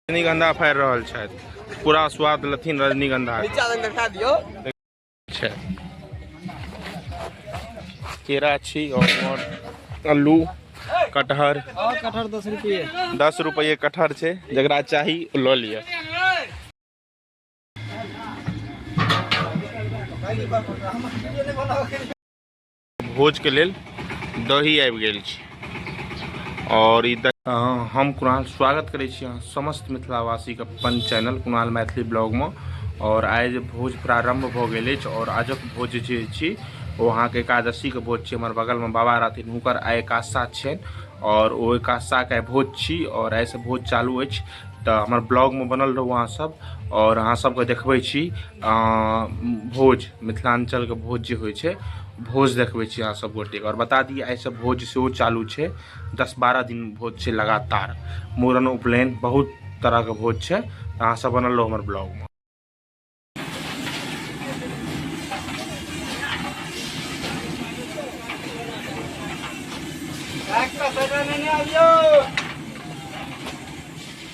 रजनीगंधा फाड़ि रहल छथि पूरा स्वाद लेथिन रजनीगंधा छै केरा छी और आलू कटहर कटहर दस रुपये दस रुपये कटहर छै जकरा चाही लऽ लिअ भोजके लेल दही आबि गेल छी आओर ई हम कुणाल स्वागत करै छी अहाँ समस्त मिथिलावासीके अपन चैनल कुणाल मैथिली ब्लॉगमे आओर आइ जे भोज प्रारम्भ भऽ गेल अछि आओर आजक भोज जे छी ओ अहाँके एकादशीके भोज छी हमर बगलमे बाबा रहथिन हुनकर आइ एकादशा छनि आओर ओ एकादशाके आइ भोज छी आओर आइसँ भोज चालू अछि तऽ हमर ब्लॉगमे बनल रहू अहाँसभ आओर अहाँसभके देखबै छी भोज मिथिलाञ्चलके भोज जे होइ छै भोज देखबै छी अहाँ सब गोटेके आओर बता दी आइसँ भोज सेहो चालू छै दस बारह दिन भोज छै लगातार मूड़न उपनयन बहुत तरहके भोज छै अहाँ सब बनल रहू हमर ब्लॉगमे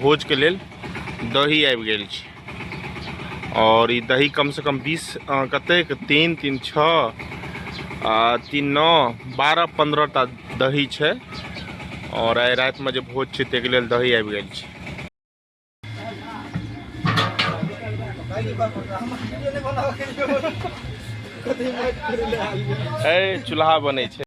भोज के लेल दही आबि गेल छै और ई दही कम से कम बीस कते तीन तीन छओ आ तीन नओ बारह पंद्रह टा दही छै और आइ रातिमे जे भोज छै ताहिके लेल दही आबि गेल छै ए चूल्हा बनै छै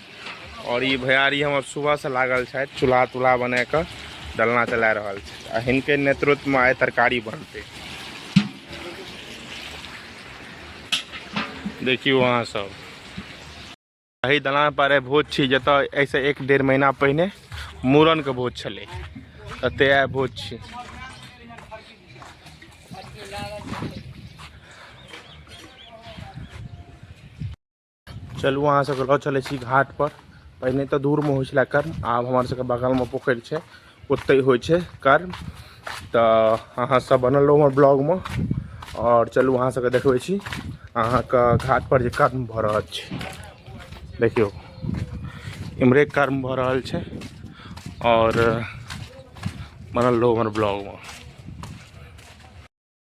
और ये भैयारी हमर सुबह से लागल छथि चूल्हा तूल्हा बना के डलना चला रहल छथि आ हिनके नेतृत्व में आइ तरकारी बनते देखियो अहाँ सब एहि दलान पर भोज छी जतऽ ऐसे एक डेढ़ महीना पहिने मूड़न के भोज छलै तते आइ भोज छी चलू अहाँ सबके लऽ चलै छी घाट पर पहिने तऽ दूरमे होइ छलै कर्म आब हमर सबके बगलमे पोखरि छै ओतहि होइ छै कर्म तऽ अहाँ सब बनल रहू हमर ब्लॉगमे आओर चलू अहाँ सबके देखबै छी अहाँके घाट पर जे कर्म भऽ रहल छै देखियौ इम्हरे कर्म भऽ रहल छै आओर बनल रहू हमर ब्लॉगमे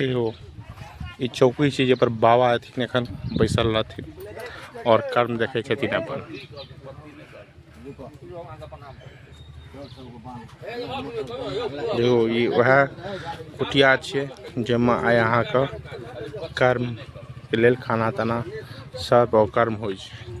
ई चौकी छी जाहिपर बाबा एथिन एखन बैसल रहथिन आओर कर्म देखै छथिन अपन देखो ई उएह कुटिया छियै जाहिमे आइ अहाँके कर्मके लेल खाना ताना सर्व आओर कर्म होइ छै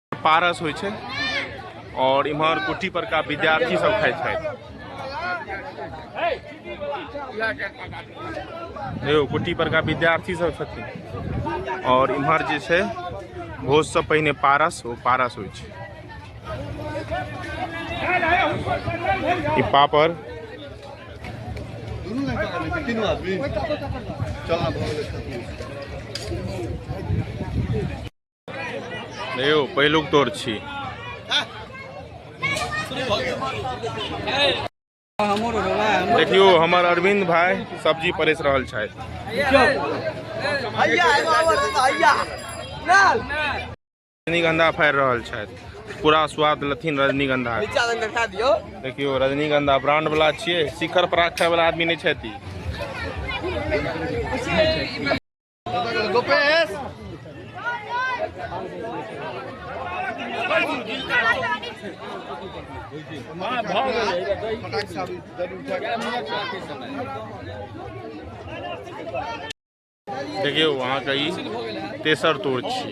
पारस होइ छै और इम्हर कुट्टी पर का विद्यार्थी सब खाए छथि देखियौ कुट्टी पर का विद्यार्थी सब छथिन और इम्हर जे छै भोज से पहिने पारस ओ पारस होइ छै ई पापड़ चलना यौ पहिलुक तोर छी देखियो हमर अरविंद भाई सब्जी परेस रहल छथि रजनीगंधा फाड़ि रहल छथि पूरा स्वाद लथिन रजनीगंधा देखियो रजनीगंधा ब्रांड वाला छियै शिखर पराग खाय वाला आदमी नहीं छथि देखियौ अहाँके ई तेसर तोड़ छी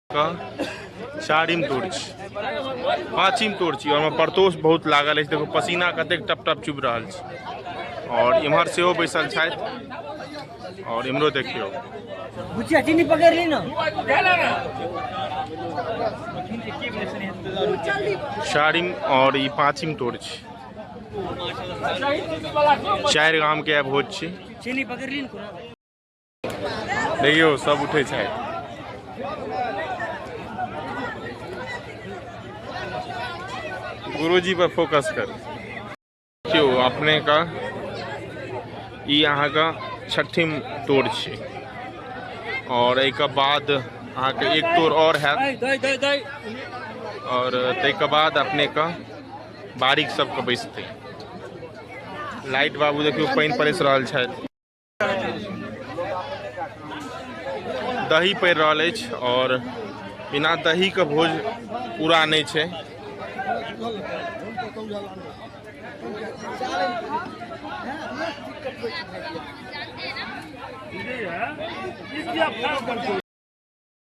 चारिम तोड़ छी पाँचिम तोड़ छी ओहिमे परतोष बहुत लागल अछि देखो पसीना कतेक टप टप चुभ रहल छी और इम्हर से बैसल छथि और इम्हरो देखियो चारिम और ई पाँचिम तोड़ छी चारि गामके भोज छी देखियौ सब उठै छै गुरुजी पर फोकस कर क्यों अपने का ई अहाँके छठिम तोड़ छै और एक बाद अहाँके एक तोड़ और है और तक बाद अपने का बारीक सबके बैसते लाइट बाबू देखियो पानि पड़ैस रहल छथि दही पड़ि रहल अछि आओर बिना दहीके भोज पूरा नहि छै